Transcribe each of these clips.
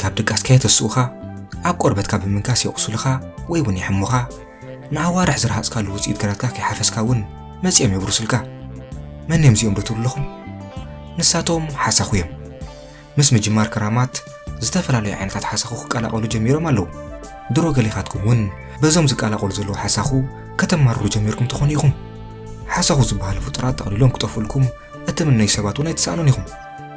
ካብ ድቃስካ የተስኡኻ፣ ኣብ ቆርበትካ ብምንካስ የቑስሉኻ ወይ እውን የሕሙኻ፣ ንኣዋርሕ ዝረሃጽካሉ ውጽኢት ግራትካ ከይሓፈስካ እውን መጺኦም የብርሱልካ። መን እዮም እዚኦም ዶ ትብሉ ኣለኹም? ንሳቶም ሓሳኹ እዮም። ምስ ምጅማር ክራማት ዝተፈላለዩ ዓይነታት ሓሳኹ ክቀላቐሉ ጀሚሮም ኣለዉ። ድሮ ገሊኻትኩም እውን በዞም ዝቀላቐሉ ዘለዉ ሓሳኹ ከተማርሩ ጀሚርኩም ትኾኑ ኢኹም። ሓሳኹ ዝበሃሉ ፍጡራት ጠቕሊሎም ክጠፍኡልኩም እትምነዩ ሰባት እውን ኣይትሰኣኑን ኢኹም።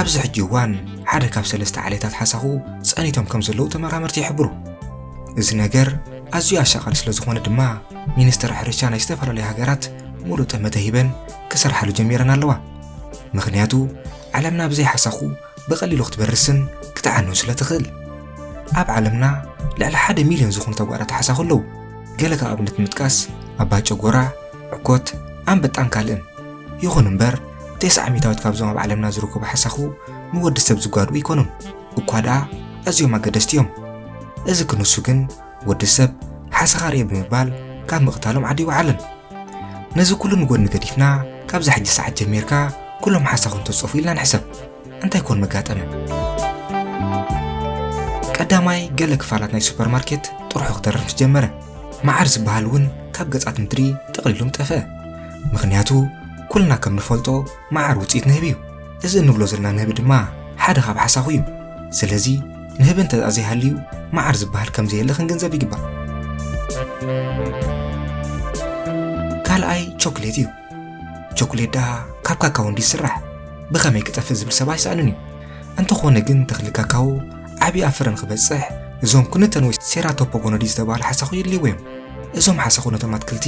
ኣብዚ ሕጂ እዋን ሓደ ካብ ሰለስተ ዓሌታት ሓሳኹ ጸኒቶም ከም ዘለዉ ተመራመርቲ ይሕብሩ እዚ ነገር ኣዝዩ ኣሻቓሊ ስለ ዝኾነ ድማ ሚኒስትር ሕርሻ ናይ ዝተፈላለዩ ሃገራት ሙሉእ ጠመተ ሂበን ክሰርሓሉ ጀሚረን ኣለዋ ምክንያቱ ዓለምና ብዘይ ሓሳኹ ብቐሊሉ ክትበርስን ክትዓኑን ስለ ትኽእል። ኣብ ዓለምና ልዕሊ ሓደ ሚልዮን ዝኾኑ ተጓዳቲ ሓሳኹ ኣለዉ። ገለ ካብ ኣብነት ንምጥቃስ ኣባ ጨጎራ፣ ዕኮት፣ ኣንበጣን ካልእን። ይኹን እምበር ቴስዓ ሚታዊት ካብዞም ኣብ ዓለምና ዝርከቡ ሓሳኹ ንወዲ ሰብ ዝጓድኡ ኣይኮኑን፣ እኳ ደኣ ኣዝዮም ኣገደስቲ እዮም። እዚ ክንሱ ግን ወዲ ሰብ ሓሰኻርየ ብምባል ካብ ምቕታሎም ዓዲ ይውዓለን ነዚ ኩሉ ንጎድኒ ገዲፍና ካብዛ ሕጂ ሰዓት ጀሚርካ ኩሎም ሓሳኹም ተፀፉ ኢልና ንሕሰብ እንታይ ኮን መጋጠመ ቀዳማይ ገለ ክፋላት ናይ ሱፐርማርኬት ጥርሑ ክተርፍ ምስ ጀመረ መዓር ዝበሃል እውን ካብ ገጻት ምድሪ ጠቕሊሎም ጠፍአ ምክንያቱ ኩልና ከም ንፈልጦ መዓር ውፅኢት ንህቢ እዩ። እዚ እንብሎ ዘለና ንህቢ ድማ ሓደ ካብ ሓሳኹ እዩ። ስለዚ ንህቢ እንተኣ ዘይሃልዩ መዓር ዝበሃል ከም ዘየለ ክንግንዘብ ይግባእ። ካልኣይ ቾክሌት እዩ። ቾክሌት ደኣ ካብ ካካዎ እንዲ ይስራሕ ብኸመይ ክጠፍእ ዝብል ሰብ ኣይሰኣንን እዩ። እንተኾነ ግን ተኽሊ ካካዎ ዓብዪ ኣብ ፍረ ንክበፅሕ እዞም ኩንተን ወይ ሴራቶፖጎኖዲ ዝተባህሉ ሓሳኹ የድልይዎ እዮም። እዞም ሓሳኹ ነቶም ኣትክልቲ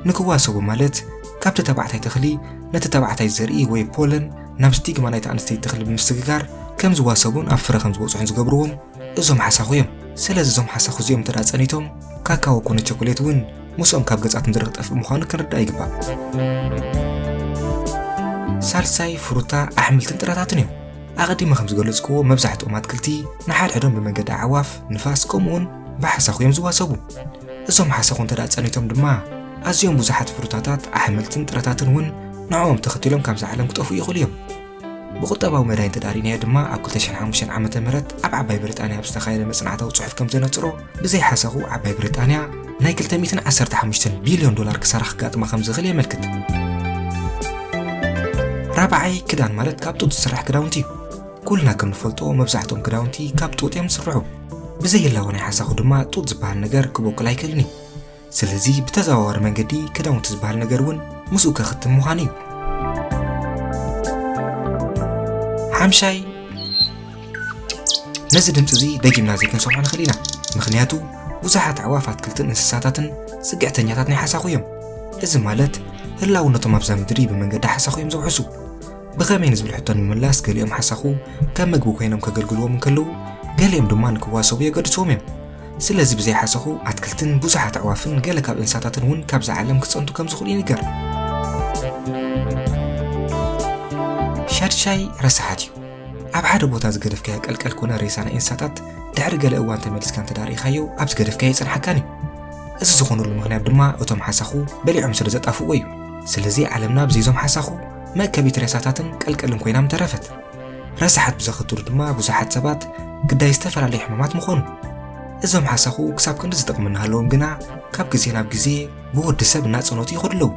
ንክዋሰቡ ማለት ካብቲ ተባዕታይ ተኽሊ ነቲ ተባዕታይ ዘርኢ ወይ ፖለን ናብ ስቲግማ ናይቲ ኣንስተይቲ ተኽሊ ብምስግጋር ከም ዝዋሰቡን ኣብ ፍረ ከም ዝበፅሑን ዝገብርዎም እዞም ሓሳኹ እዮም። ስለዚ እዞም ሓሳኹ እዚኦም እንተ ጸኒቶም ካካዎ ኮነ ቸኮሌት እውን ምስኦም ካብ ገጻት ምድሪ ክጠፍእ ምዃኑ ክንርዳእ ይግባእ። ሳልሳይ ፍሩታ ኣሕምልትን ጥራታትን እዮም። ኣቐዲመ ከም ዝገለጽክዎ መብዛሕትኦም ኣትክልቲ ንሓድሕዶም ብመንገዲ ኣዕዋፍ፣ ንፋስ ከምኡውን ብሓሳኹ እዮም ዝዋሰቡ። እዞም ሓሰኹ እንተ ጸኒቶም ድማ ኣዝዮም ብዙሓት ፍሩታታት ኣሕምልትን ጥረታትን እውን ንዕኦም ተኸቲሎም ካብዛ ዓለም ክጠፍኡ ይኽእሉ እዮም ብቁጠባዊ መዳይ እንተዳሪናዮ ድማ ኣብ 2005 ዓ ም ኣብ ዓባይ ብሪጣንያ ኣብ ዝተኻየደ መፅናዕታዊ ፅሑፍ ከም ዘነፅሮ ብዘይ ሓሰኹ ዓባይ ብሪጣንያ ናይ 215 ቢልዮን ዶላር ክሳራ ክጋጥማ ከም ዝኽእል የመልክት ራብዓይ ክዳን ማለት ካብ ጡጥ ዝስራሕ ክዳውንቲ እዩ ኩልና ከም ንፈልጦ መብዛሕትኦም ክዳውንቲ ካብ ጡጥ እዮም ዝስርሑ ብዘይህላወ ናይ ሓሳኹ ድማ ጡጥ ዝበሃል ነገር ክቦቅል ኣይክእልን እዩ ስለዚ ብተዘዋዋሪ መንገዲ ክዳውንቲ ዝበሃል ነገር እውን ምስኡ ከኽትም ምዃኑ እዩ ሓምሻይ ነዚ ድምፂ እዚ ደጊምና ዘይክንሰምዖ ንኽእል ኢና ምክንያቱ ብዙሓት ኣዕዋፍ ኣትክልትን እንስሳታትን ፅግዕተኛታት ናይ ሓሳኹ እዮም እዚ ማለት ህላውነቶም ኣብዛ ምድሪ ብመንገዲ ሓሳኹ እዮም ዘውሕሱ ብኸመይ ንዝብል ሕቶ ንምምላስ ገሊኦም ሓሳኹ ከም ምግቢ ኮይኖም ከገልግልዎም እንከለዉ ገሊኦም ድማ ንክዋሰቡ የገድስዎም እዮም ስለዚ ብዘይ ሓሳኹ ኣትክልትን ብዙሓት ኣዕዋፍን ገለ ካብ እንስሳታትን እውን ካብዛ ዓለም ክፀንቱ ከም ዝኽእሉ ይንገር ሻድሻይ ረሳሓት እዩ ኣብ ሓደ ቦታ ዝገደፍካዮ ቀልቀል ኮነ ሬሳ ናይ እንስሳታት ድሕሪ ገለ እዋን ተመሊስካ እንተዳሪእኻዮ ኣብ ዝገደፍካዮ ይፀንሓካን እዩ እዚ ዝኾነሉ ምክንያት ድማ እቶም ሓሳኹ በሊዖም ስለ ዘጣፍዎ እዩ ስለዚ ዓለምና ብዘይዞም ሓሳኹ መእከቢት ሬሳታትን ቀልቀልን ኮይናም ተረፈት። ረሳሓት ብዘኸትሉ ድማ ብዙሓት ሰባት ግዳይ ዝተፈላለዩ ሕማማት ምኾኑ። እዞም ሓሳኹ ክሳብ ክንዲ ዝጠቕሙ እናሃለዎም ግና ካብ ግዜ ናብ ግዜ ብወዲ ሰብ እናጸኖቱ ይኸዱ ኣለዉ።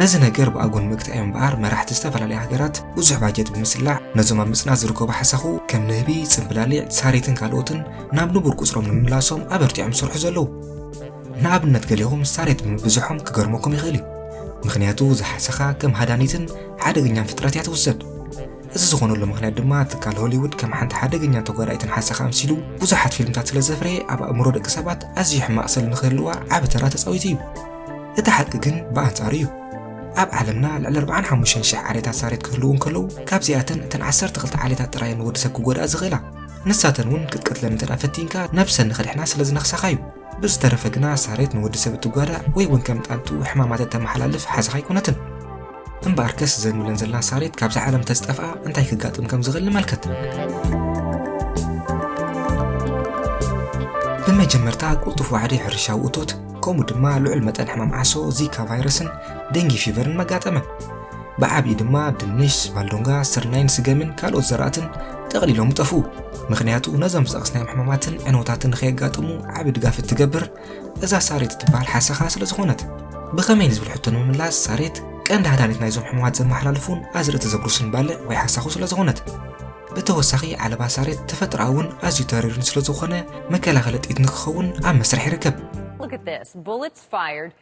ነዚ ነገር ብኣጎ ንምግታእ እዮም እምበኣር መራሕቲ ዝተፈላለያ ሃገራት ብዙሕ ባጀት ብምስላዕ ነዞም ኣብ ምጽናት ዝርከቡ ሓሳኹ ከም ንህቢ፣ ጽምብላሊዕ፣ ሳሬትን ካልኦትን ናብ ንቡር ቁጽሮም ንምምላሶም ኣበርቲዖም ዝሰርሑ ዘለዉ። ንኣብነት ገሊኹም ሳሬት ብምብዝሖም ክገርመኩም ይኽእል እዩ። ምኽንያቱ እዛ ሓሰኻ ከም ሃዳኒትን ሓደገኛን ፍጥረት እያ ትውሰድ። እዚ ዝኾነሉ ምኽንያት ድማ ትካል ሆሊውድ ከም ሓንቲ ሓደገኛን ተጓዳኢትን ሓሰኻ ኣምሲሉ ብዙሓት ፊልምታት ስለ ዘፍረየ ኣብ ኣእምሮ ደቂ ሰባት ኣዝዩ ሕማቕ ስል ንክህልዋ ዓቢ ተራ ተጻዊቱ እዩ። እቲ ሓቂ ግን ብኣንጻሩ እዩ። ኣብ ዓለምና ልዕሊ 45 ሽሕ ዓሌታት ሳሬት ክህልዉ እንከለዉ ካብዚኣተን እተን 12 ዓሌታት ጥራየን ንወዲ ሰብ ክጎድኣ ዝኽእላ። ንሳተን እውን ክትቀትለን እንተ ፈቲንካ ነብሰን ንኸድሕና ስለ ዝነኽሳኻ እዩ። ብዝተረፈ ግና ሳሬት ንወዲ ሰብ እትጓዳእ ወይ እውን ከም ጣንጡ ሕማማት እተመሓላልፍ ሓዝኻ ኣይኮነትን። እምበኣርከስ እዘን ንብለን ዘለና ሳሬት ካብዛ ዓለም ተዝጠፍኣ እንታይ ክጋጥም ከም ዝኽእል ንመልከት። ብመጀመርታ ቁልጡፍ ዋዕዲ ሕርሻዊ እቶት ከምኡ ድማ ልዑል መጠን ሕማም ዓሶ፣ ዚካ ቫይረስን ደንጊ ፊቨርን መጋጠመን። ብዓቢኡ ድማ ድንሽ፣ ባልዶንጋ፣ ስርናይን ስገምን ካልኦት ዘራእትን ጠቕሊሎም ይጠፍኡ። ምኽንያቱ ነዞም ዝጠቕስናዮም ሕማማትን ዕንወታትን ንኸየጋጥሙ ዓቢ ድጋፍ እትገብር እዛ ሳሬት እትበሃል ሓሰኻ ስለ ዝኾነት። ብኸመይ ንዝብል ሕቶ ንምምላስ ሳሬት ቀንዲ ሃዳኒት ናይዞም ሕማማት ዘመሓላልፉን ኣዝርእቲ ዘጉርስን ባልዕ ወይ ሓሳኹ ስለ ዝኾነት። ብተወሳኺ ዓለባ ሳሬት ተፈጥሮኣውን ኣዝዩ ተሪርን ስለ ዝኾነ መከላኸሊ ጥይት ንክኸውን ኣብ መስርሕ ይርከብ። Look at this, bullets fired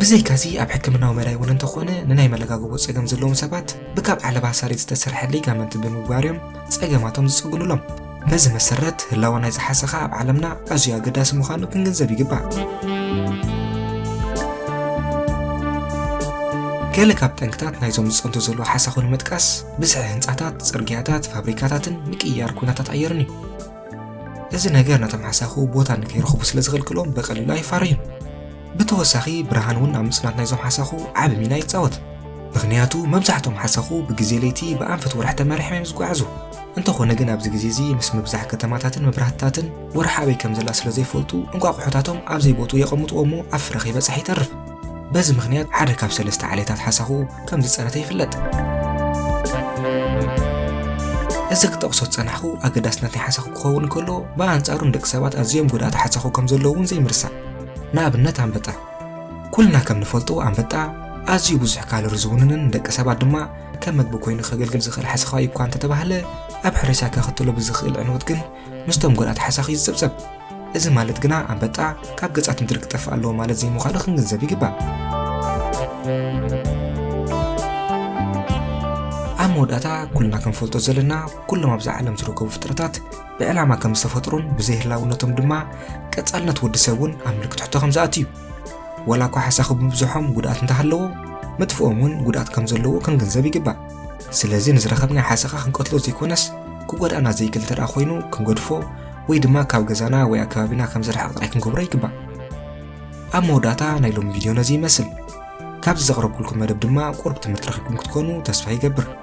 ብዘይካዚ ኣብ ሕክምናዊ መዳይ እውን እንተኾነ ንናይ መለጋገቦ ጸገም ዘለዎም ሰባት ብካብ ዓለባ ሳሬት ዝተሰርሐ ሊጋመንት ብምግባር እዮም ጸገማቶም ዝጽግኑሎም። በዚ መሰረት ህላወ ናይ ዝሓሰኻ ኣብ ዓለምና ኣዝዩ ኣገዳሲ ምዃኑ ክንግንዘብ ይግባእ። ገለ ካብ ጠንቅታት ናይዞም ዝጸንቱ ዘለዉ ሓሳኹ ንምጥቃስ ብዝሒ ህንጻታት፣ ጽርግያታት፣ ፋብሪካታትን ምቅይያር ኩነታት ኣየርን እዩ። እዚ ነገር ነቶም ሓሳኹ ቦታ ንከይረኽቡ ስለ ዝኽልክሎም ብቐሊሉ ኣይፋረዩን። ብተወሳኺ ብርሃን እውን ኣብ ምጽናት ናይዞም ሓሰኹ ዓቢ ሚና ይጻወት። ምኽንያቱ መብዛሕቶም ሓሰኹ ብግዜ ለይቲ ብኣንፈት ወርሒ ተመሪሖም እዮም ዝጓዓዙ። እንተኾነ ግን ኣብዚ ግዜ እዚ ምስ ምብዛሕ ከተማታትን መብራህትታትን ወርሒ ኣበይ ከም ዘላ ስለ ዘይፈልጡ እንቋቑሖታቶም ኣብ ዘይቦትኡ የቐምጥዎ እሞ ኣብ ፍረ ከይበጽሐ ይተርፍ። በዚ ምኽንያት ሓደ ካብ ሰለስተ ዓሌታት ሓሰኹ ከም ዝጸነተ ይፍለጥ። እዚ ክጠቕሶ ዝጸናሕኩ ኣገዳስነት ናይ ሓሳኹ ክኸውን ከሎ ብኣንጻሩ ንደቂ ሰባት ኣዝዮም ጎዳእቲ ሓሳኹ ከም ዘለዉ እውን ዘይምርሳዕ ንኣብነት ኣንበጣ ኩልና ከም ንፈልጦ ኣንበጣ ኣዝዩ ብዙሕ ካሎሪ ዝውንንን ንደቂ ሰባት ድማ ከም መግቢ ኮይኑ ከገልግል ዝኽእል ሓሰኻዋይ እኳ እንተተባህለ ኣብ ሕርሻ ከኸትሎ ብዝኽእል ዕንወት ግን ምስቶም ጎዳእቲ ሓሳኽ እዩ ዝጸብጸብ። እዚ ማለት ግና ኣንበጣ ካብ ገጻት ምድሪ ክጠፍእ ኣለዎ ማለት ዘይምዃኑ ክንግንዘብ ይግባእ። ኣብ መወዳእታ ኩልና ክንፈልጦ ዘለና ኩሎም ኣብዛ ዓለም ዝርከቡ ፍጥረታት ብዕላማ ከም ዝተፈጥሩን ብዘይህላውነቶም ድማ ቀጻልነት ወዲ ሰብ እውን ኣብ ምልክት ሕቶ ከም ዝኣቱ እዩ። ወላ እኳ ሓሳኹ ብምብዝሖም ጉድኣት እንተሃለዎ ምጥፍኦም እውን ጉድኣት ከም ዘለዎ ክንግንዘብ ይግባእ። ስለዚ ንዝረኸብናዮ ሓሰኻ ክንቀትሎ ዘይኮነስ ክጎድኣና ዘይክእል እንተደኣ ኮይኑ ክንገድፎ ወይ ድማ ካብ ገዛና ወይ ኣከባቢና ከም ዝርሕቕ ጥራይ ክንገብሮ ይግባእ። ኣብ መወዳእታ ናይ ሎሚ ቪድዮ ነዚ ይመስል። ካብዚ ዘቕረብኩልኩም መደብ ድማ ቁሩብ ትምህርቲ ረኺብኩም ክትኮኑ ተስፋ ይገብር።